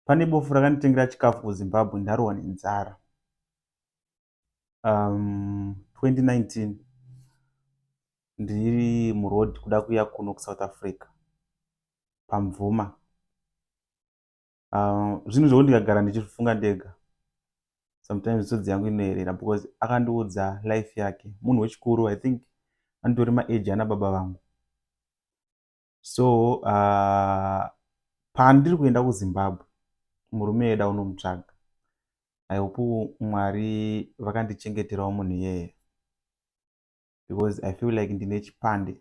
pane bofu rakanditengera chikafu kuzimbabwe ndarohwa nenzara um, 2019 ndiri muroad kuda kuya kuno kusouth africa pamvuma um, zvinhu zvoku ndikagara ndichifunga ndega sometimes misodzi yangu inoerera because akandiudza life yake munhu wechikuru i think anditori maage ana baba vangu so uh, pandiri kuenda kuzimbabwe murume yeda unomutsvaga ihope mwari vakandichengeterawo munhu iyeye because i feel like ndine chipande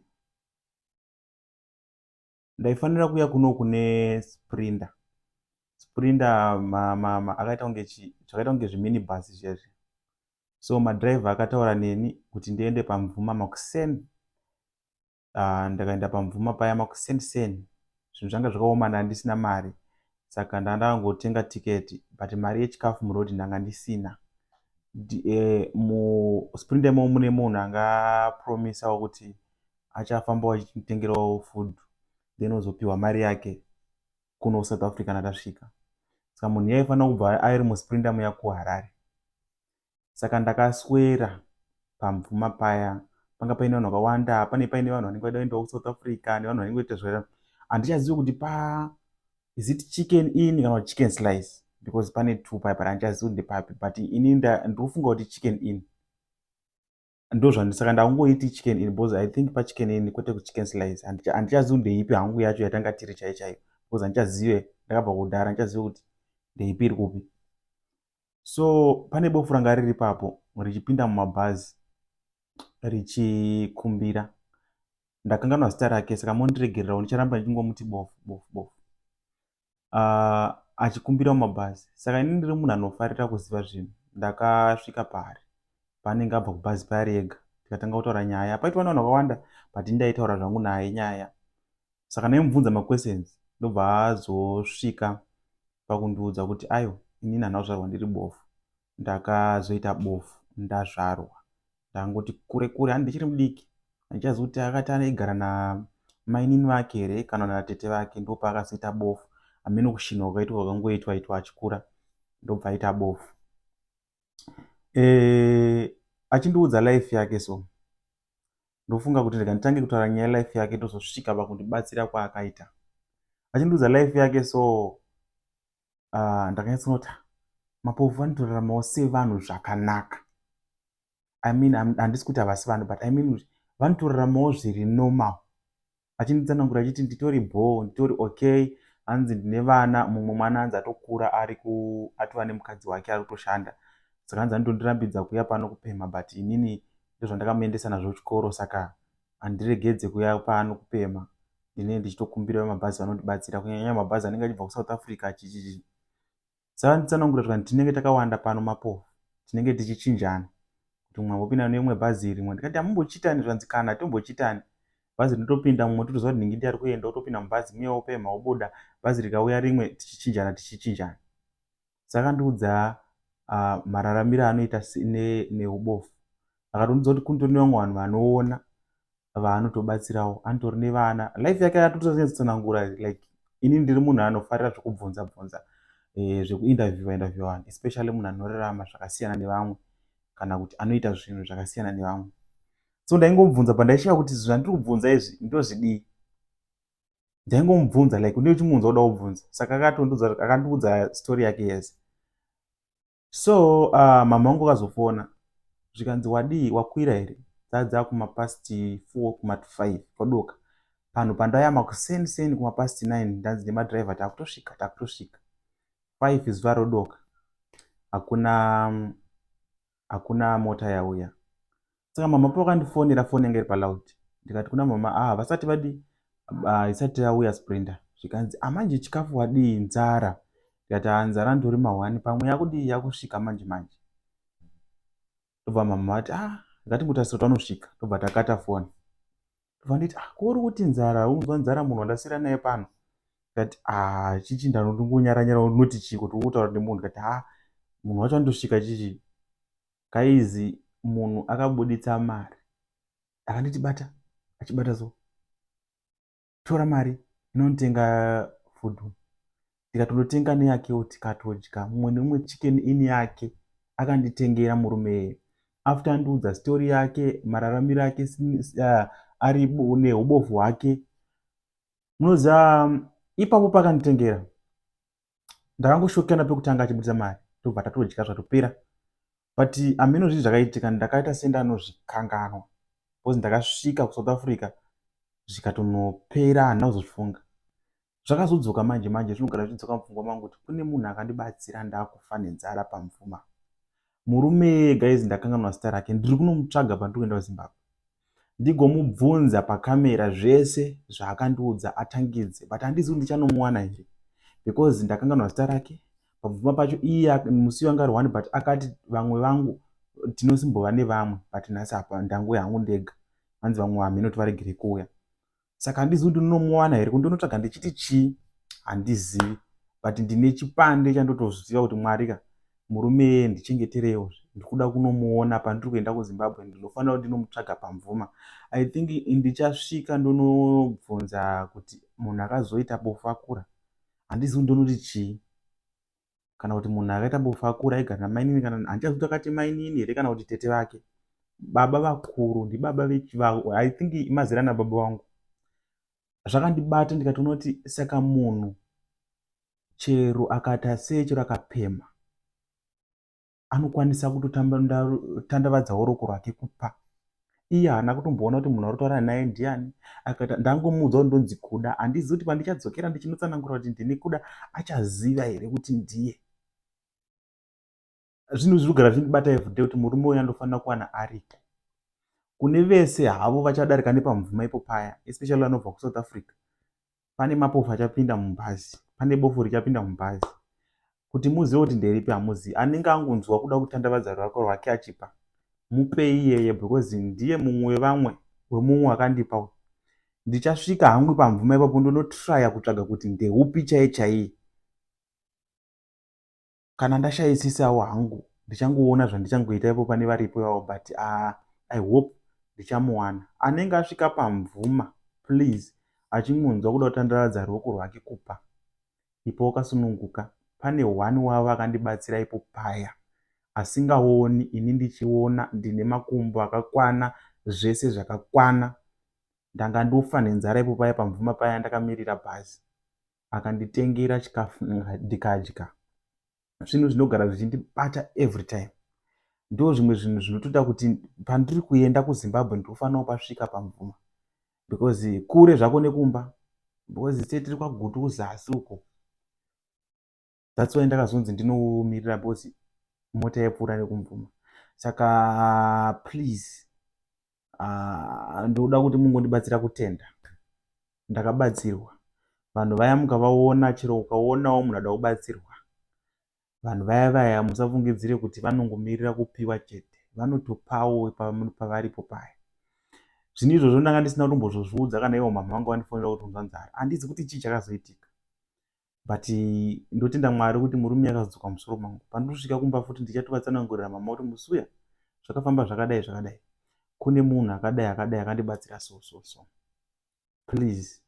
ndaifanira kuya kuno kune sprinda sprinda akaita kunge zvakaita kunge zviminibus zvezvi so madriver akataura neni kuti ndiende pamvuma makuseni uh, ndakaenda pamvuma paya makuseni seni zvinhu zvanga zvakaoma ndanga ndisina mari saka ndanga ndakangotenga tiketi but mari yechikafu muroad ndanga ndisina eh, musprint imo mune munhu angapromisawo kuti achafambawo achitengerawo food then ozopiwa mari yake kuno kusouth africa natasvika saka munhu yaifanira kubva airi musprint amuya kuharare saka ndakaswera pamvuma paya panga paine vanhu vakawanda pane paine vanhu vanenge vaida kuendawo kusouth africa nevanhu vanenge vaita zvera handichazivi kuti pa is it chicken in kana kuti chicken slice because pane two paya pari handichazivi kuti ndepapi but ini ndiri kufunga kuti chicken in ndozvandi saka ndakungoiti chicken in because i think pachicken in kwete kuchicken slice handichazivi ndeipi hangu yacho yatanga tiri chai chaiyo because handichazive ndakabva kudhara handichazive kuti ndeipi iri kupi so pane bofu ranga riri papo richipinda mumabhazi richikumbira ndakanganwa zita rake saka mondiregererawo ndicharamba ndichingomuti bofu bofu bofu uh, achikumbira mumabhazi saka ini ndiri munhu anofarira kuziva zvinhu ndakasvika paari paanenge abva kubhazi paari ega tikatanga kutaura nyaya paitwa nevanhu vakawanda but ndaitaura zvangu naye nyaya saka ndaimubvunza maquestions ndobva azosvika pakundiudza kuti ayo inini hanazvarwa ndiri bofu ndakazoita bofu ndazvarwa ndangoti kure kure handi ndichiri mudiki handichazivi kuti akati aigara namainini vake here kana natete vake ndopaakazoita bofu hameno kushinha kwakaitwa kwakangoitwa itwa achikura ndobva aita bofu e, achindiudza life yake so ndofunga kuti rega nditange kutaura nyaya yelife yake ndozosvika pakundibatsira kwaakaita achindiudza life yake so uh, ndakanyatsooti mapofu vanotoraramawo sevanhu zvakanaka i mean handisi kuti havasi vanhu but i mean kuti vanotoraramawo zviri normal achinditsanangura achiti nditori bhoo nditori okay hanzi ndine vana mumwe mwana anzi atokura ari ku atova nemukadzi wake ari kutoshanda saka hanzi anotondirambidza kuya pano kupemha but inini ndozvandakamuendesa nazvo chikoro saka handiregedze kuya pano kupemha ndinenge ndichitokumbira vemabhazi vanondibatsira kunyanyanya mabhazi anenge achibva kusouth africa achichii saka nditsanangura kuti vanhu tinenge takawanda pano mapofu tinenge tichichinjana kuti mumwe ambopinda neimwe bhazi rimwe ndikati amumbochitani zvanzi kana tombochitani bhazi rinotopinda mumwe totoziva kuti ndingi ndiari kuenda otopinda mubhazi muye opemha obuda bhazi rikauya rimwe tichichinjana tichichinjana dzakandiudza uh, mararamiro anoita neubofu ne akatondiudza kuti kundori nevamwe vanhu vanoona vaanotobatsirawo anitori nevana life yake atotozonyatsanangura like ini ndiri munhu anofarira zvekubvunza bvunza eh, zvekuinterviewa interview vanhu especially munhu anorarama zvakasiyana nevamwe kana kuti anoita zvinhu zvakasiyana nevamwe so ndaingomubvunza pandaichiva kuti zvandiri kubvunza izvi ndozvidii ndaingomubvunza like unenge uchimuunza uda kubvunza saka akandiudza story yake yese so uh, mama wangu akazofona zvikanzi wadii wakwira here dzadza kumapast four kumat five kwadoka panhu pandayama kuseni seni kumapast nine ndanzi nemadriver takutosvika takutosvika five zuva rodoka hakuna hakuna mota yauya saka mama pakandifonera foni yanga iri paloud ndikati kuna mama a ah, havasati vadii haisati yauya sprinter zvikanzi amanje ah, chikafu wadii nzara ndikati a ah, nzara ndori mahwani pamwe yakudii yakusvika manje manje ndobva mama vati a ngatingotarisira twanosvika ndobva takata foni vanditi ah, ko uri kuti nzara unzwa nzara munhu wandasira naye pano kati ah, chichi ndanoti ngonyaranyara unoti chii kuti ukutaura nemunhu kati ha ah, munhu wacho andosvika chichi kaizi munhu akabuditsa mari akanditi bata achibata so tora mari inonitenga fudhu tikatonotenga neyakewo tikatodya mumwe nemumwe chicken in yake akanditengera murume eye after andiudza story yake mararamiro ake uh, ari neubofu hwake munoziva um, ipapo pakanditengera ndakangoshokana pekutanga achibudisa mari tobva tatodya zvatopera but ameno zvinhu zvakaitika ndakaita senda anozvikanganwa bcause ndakasvika kusouth africa zvikatonopera handina kuzozvifunga zvakazodzoka manje manje zvinogara zvichidzoka mupfungwa mangu kuti kune munhu akandibatsira ndaakufa nenzara pamvuma murume guys ndakanganwa zita rake ndiri kunomutsvaga pandiri kuenda kuzimbabwe ndigomubvunza pakamera zvese zvaakandiudza atangidze but handizi kuti ndichanomuwana here because ndakanganwa zita rake pamvuma pacho iye musi wanga ari one but akati vamwe vangu tinosimbova nevamwe but nhasi apa ndanguya hangu ndega hanzi vamwe vamheno tivaregere kuuya saka handizivi kuti ndinomuwana here kundonotsvaga ndichiti chii handizivi but ndine chipande chandotoziva kuti mwari ka murume yeye ndichengeterewo ndikuda kunomuona pandiri kuenda kuzimbabwe ndinofanira kuti ndinomutsvaga pamvuma i think ndichasvika ndonobvunza kuti munhu akazoita bofu akura handizivi ndonoti chii kana kuti munhu akaita bofu akura aigara namainini kana handichazivi kuti akati mainini here kana kuti tete vake baba vakuru ndibaba vechivau i think mazera nababa vangu zvakandibata ndikatoona kuti saka munhu chero akati asee chero akapema anokwanisa kutotandavadzawo roko rwake kupa iye haana kutomboona kuti munhu arutaura naye ndiani akaita ndangomuudza kuti ndonzi kuda handizivi kuti pandichadzokera ndichinotsanangura kuti ndini kuda achaziva here kuti ndiye zvinhu zviri kugara zvindibata evde kuti murume uyo andofanira kuwana arita kune vese havo vachadarika nepamvuma ipo paya especially vanobva kusouth africa pane mapofu achapinda mubhazi pane bofu richapinda mubhazi kuti muzive kuti nderipi hamuzivi anenge angonzwa kuda kutandavadza rurako rwake achipa mupei iyeye because ndiye mumwe wevamwe wemumwe akandipa ndichasvika hangu pamvuma ipapo ndonotraya kutsvaga kuti ndeupi chaiye chaiye kana ndashaisisawo hangu ndichangoona zvandichangoita ipo pane varipo ivavo but uh, i hope ndichamuwana anenge asvika pamvuma please achingonzwa kuda kutandaradza ruoko rwake kupa ipo wakasununguka pane one wavo akandibatsira ipo paya asingaoni ini ndichiona ndine makumbo akakwana zvese zvakakwana ndanga ndofa nenzara ipo paya pamvuma paya ndakamirira bhazi akanditengera chikafu ndikadya zvinhu zvinogara zvichindibata every time ndo zvimwe zvinhu zvinotoda kuti pandiri kuenda kuzimbabwe ndinofanirawo pasvika pamvuma because kure zvako nekumba because se tiri kwagutu kuzasi uko that's why ndakazonzi ndinomirira because mota yaipfuura nekumvuma saka please uh, ndoda kuti mungondibatsira kutenda ndakabatsirwa vanhu vaya mukavaona chero ukaonawo munhu ada kubatsirwa vanhu vaya vaya musafungidzire kuti vanongomirira kupiwa chete vanotopawo pavaripo paya zvino izvozvo ndanga ndisina kutombozvozviudza kana ivo mhamha vanga vandifonera kuti unzwa nzara handizi kuti chii chakazoitika but ndotenda mwari kuti murume akazodzoka musoro mangu pandosvika kumba futi ndichatovatsanangurira mama kuti musi uya zvakafamba zvakadai zvakadai kune munhu akadai akadai akandibatsira so so so please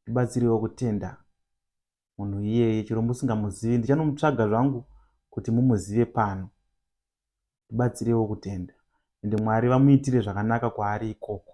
ndibatsirewo kutenda munhu iyeye chero musingamuzivi ndichanomutsvaga zvangu kuti mumuzive pano ndibatsirewo kutenda ende mwari vamuitire zvakanaka kwaari ikoko